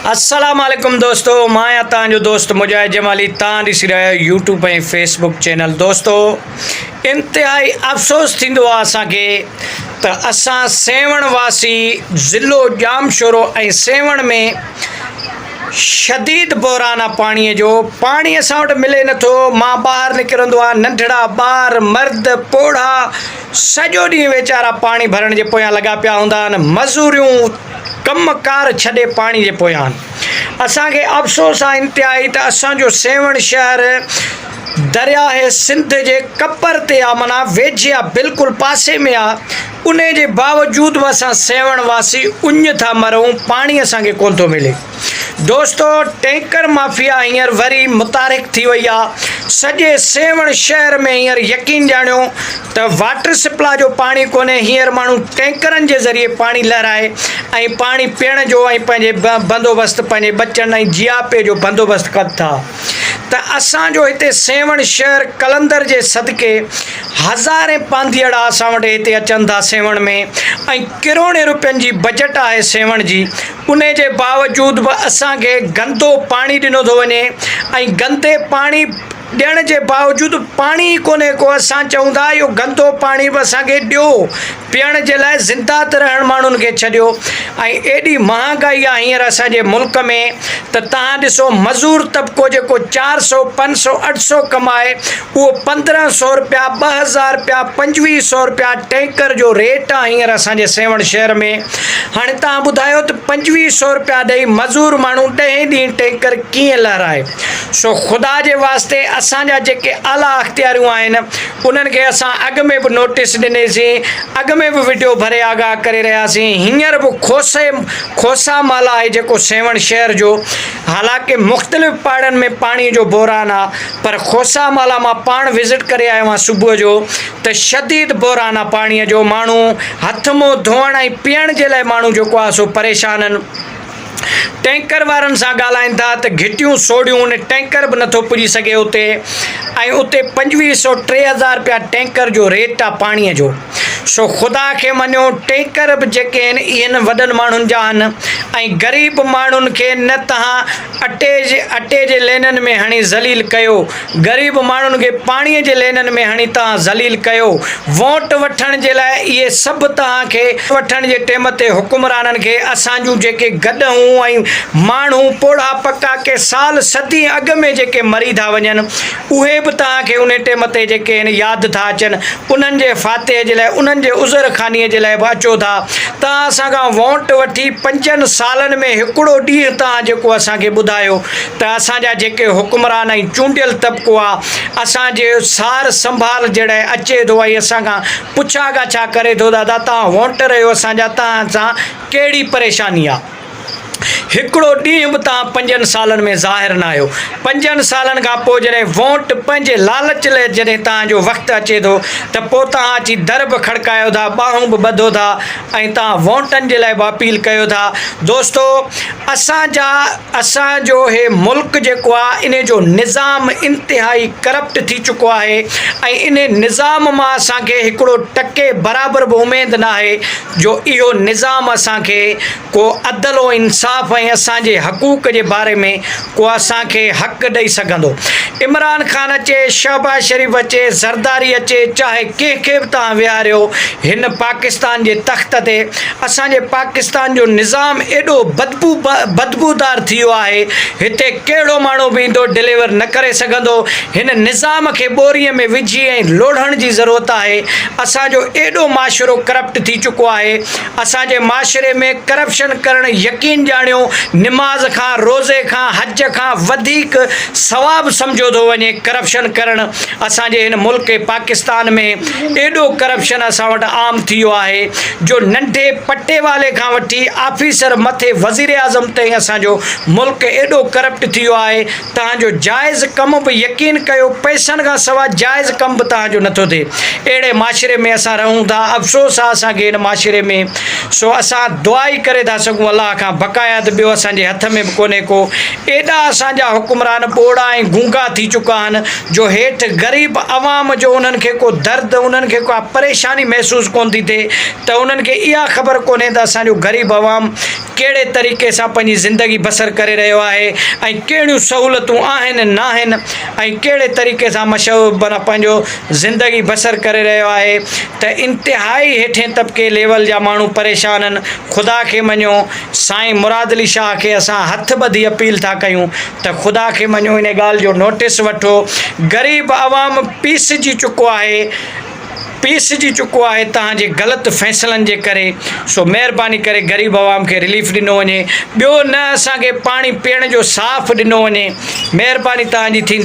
السلام عليڪم دوستو مان آهيان توهان جو دوست مجاهد جمالي توهان ڏسي رهيا آهيو يوٽيوب ۽ فيس بڪ چينل دوستو انتهائي افسوس ٿيندو آهي اسان کي ته اسان سيوهڻ واسي ضلعو ڄام شورو ۽ سيوهڻ ۾ شديد بحران آهي پاڻي جو پاڻي اسان وٽ ملي نٿو مان ٻاهر نڪرندو آهيان ننڍڙا ٻار مرد پوڙها سڄو ڏينهن ويچارا پاڻي ڀرڻ جي پويان لڳا پيا هوندا آهن مزوريون ڪم ڪار ڇڏي پاڻي جي پويان آهن. اسان کي افسوس آهي انتهائي ته اسان جو سيوهڻ شهر درياهه سنڌ جي ڪپر تي آهي معنيٰ ويجهي آهي بلڪل پاسي ۾ آهي انهي جي باوجود به اسان سيوهڻ واسي اڃ ٿا مرون پاڻي اسان کي ڪونه ٿو ملي. دوستو ٽينڪر مافيا هينئر وري متحرڪ ٿي وئي آ سڄي سيوهڻ شهر ۾ هينئر يقين ڄاڻيو ته واٽر سپلا جو پاڻي ڪونهي هينئر ماڻهو ٽينڪرن جي ذريعي پاڻي لهرائي ۽ پاڻي پيئڻ جو ۽ پنهنجي بندوبست پنهنجي ٻچن ۽ جياپي جو بندوبست ڪن ٿا ته اسان جو هتي سيوهڻ شهر قلندر جي صدقي هزارين پانڌيئڙا اسان وٽ هتي اچن ٿا سيوهڻ ۾ ۽ ڪروڙين روپين جي بجٽ آهي سيوهڻ جي انهي جي باوجود به اسان کي گندو پاڻي ڏنو ٿو وڃي ۽ گندي پاڻي ڏيڻ جي باوجود به پاڻي ئي ڪونهي ڪو اسان چئون ٿا اهو گندو پاڻي به اسان کي ڏيو پيئڻ جي لاء زنده ته رهڻ ماڻهن کي ڇڏيو ۽ ايڏي مهانگائي آهي هينئر اسان جي ملڪ ۾ ته تهان ڏسو مزور طبقو جيڪو چار سئو پنج سئو اٺ سئو ڪمائي اهو پندرهن سؤ رپيا، ٻه هزار رپيا، پنجويهه سؤ رپيا ٽينڪر جو ريٽ آ هينئر اسان جي سيوهڻ شهر ۾. هاڻي توهان ٻڌايو ته پنجويهه سؤ رپيا ڏئي مزور ماڻهو ڏهين ڏينهن ٽينڪر ڪيئن لهرائي؟ سو خدا جي واسطي اسان جا جيڪي اعليٰ اختياريون آهن انهن کي اسان اڳ ۾ به نوٽيس ڏني سين، اڳ ۾ به وڊيو ڀري آگاهه ڪري رهيا سين، هينئر به کوسي کوسا مال آهي جيڪو سيوهڻ شهر جو حالانڪه مختلف پاڙن ۾ پاڻي جو بحران آ. پر کوسا مالا مان پاڻ وزٽ ڪري آيو آهيان صبح جو ته شديد بحران آهي پاڻي جو ماڻهو هٿ منهن ڌوئڻ ۽ پيئڻ جي لاء ماڻهو جيڪو آهي سو پريشان آهن ٽينڪر وارن سان ڳالهائين ٿا ته گهٽيون سوڙهيون ان ٽينڪر به نٿو پڄي سگهي اتي ۽ اتي پنجويهه سو ٽي هزار رپيا ٽينڪر جو ريٽ آهي پاڻي جو سو خدا کي مڃو ٽينڪر به جيڪي آهن اهي وڏن ماڻهن جا آهن ۽ غريب ماڻهن کي نه تهان اٽي جي اٽي جي لينن ۾ هڻي ذليل ڪيو، غريب ماڻهن کي پاڻي جي لينن ۾ هڻي توهان ذليل ڪيو، ووٽ وٺڻ جي لاء اهي سڀ توهان کي. وٺڻ جي ٽيم تي حڪمرانن کي اسان جون جيڪي گڏهون ۽ ماڻهون پوڙها پڪا ڪي سال صدين اڳ ۾ جيڪي مري ٿا وڃن، اهي به توهان کي انهي ٽيم تي جيڪي هن ياد ٿا اچن، انهن جي فاتح جي لاء، انهن جي عذر خوانيء جي لاء به اچو ٿا. توهان اسان کان وونٽ وٺي پنجن سالن ۾ هڪڙو ڏينهن توهان جيڪو اسان کي ٻڌايو ته اسان جا جيڪي حڪمران ۽ چونڊيل طبقو آ، اسان جي سار سنڀال جي ڙي اچي ٿو ۽ اسان کان پڇا ڳاڇا ڪري ٿو دادا توهان وونٽر اهيو اسان جا توهان سان ڪهڙي پريشاني آ؟ هڪڙو ڏينهن به تان پنجن سالن ۾ ظاهر نه آيو. پنجن سالن کان پوء جڏهن وونٽ پنهنجي لالچ لئه جڏهن تان جو وقت اچي ٿو ته پوء تان اچي در به کڙڪايو ٿا ٻانهون به ٻڌو ٿا ۽ تان وونٽن جي لئه به اپيل ڪيو ٿا دوستو اسان جا اسان جو هي ملڪ جيڪو آ ان جو نظام انتهائي ڪرپٽ ٿي چڪو آهي ۽ ان نظام مان اسان کي هڪڙو ٽڪي برابر به اميد ناهي جو اهو نظام اسان کي ڪو عدل و انصاف ۽ اسان جي حقوق جي باري ۾ ڪو اسان کي حق ڏئي سگهندو. عمران خان اچي، شهباز شريف اچي، زرداري اچي، چاهي ڪنهن کي به توهان ويهاريو، هن پاڪستان جي تخت تي اسان جي پاڪستان جو نظام ايڏو بدبو بدبودار ٿي ويو آهي، هتي ڪهڙو ماڻهو به ايندو ڊليور نه ڪري سگهندو. هن نظام کي ٻوريء ۾ وجهي ۽ لوڙهڻ جي ضرورت آهي. اسان جو ايڏو معاشرو ڪرپٽ ٿي چڪو آهي اسان جي معاشري ۾ ڪرپشن ڪرڻ يقين ڄاڻيو نماز کان روزي کان حج کان وڌيڪ ثواب سمجهيو ٿو وڃي ڪرپشن ڪرڻ اسان جي هن ملڪ پاڪستان ۾ ايڏو ڪرپشن اسان وٽ عام ٿي ويو آهي جو ننڍي پٽي والي کان وٺي آفيسر مٿي وزيراعظم تائين اسان جو ملڪ ايڏو ڪرپٽ ٿي ويو آهي توهان جو جائز ڪم به يقين ڪيو پئسن کان سوا جائز ڪم به توهان جو نٿو ٿئي اهڙي معاشري ۾ اسان رهون ٿا افسوس آ اسان کي هن معاشري ۾ سو اسان دعا ئي ڪري ٿا سگهون الله کان بقايا ته ٻيو اسان جي هٿ ۾ به ڪونهي ڪو ايڏا اسان جا حڪمران ٻوڙا ۽ گونگا ٿي چڪا آهن جو هيٺ غريب عوام جو انهن کي ڪو درد انهن کي ڪا پريشاني محسوس ڪونه ٿي ٿئي ته انهن کي اها خبر ڪونهي ته اسان جو غريب عوام ڪهڙي طريقي سان پنهنجي زندگي بسر ڪري رهيو آهي ۽ ڪهڙيون سهولتون آهن ناهن ۽ ڪهڙي طريقي سان مشهور معنيٰ پنهنجو زندگي بسر ڪري رهيو آهي ته انتهائي هيٺين طبقي ليول جا ماڻهو پريشانن خدا کي مڃو سائين مراد علي شاهه کي اسان هٿ ٻڌي اپيل ٿا ڪيون ته خدا کي مڃو ان ڳالهه جو نوٽس وٺو غريب عوام پيسجي چڪو آهي پيسجي چڪو آهي توهان جي غلط فيصلن جي ڪري سو مهرباني ڪري غريب عوام کي رليف ڏنو وڃي ٻيو نه اسان کي پاڻي پيئڻ جو صاف ڏنو وڃي مهرباني توهان جي ٿيندي.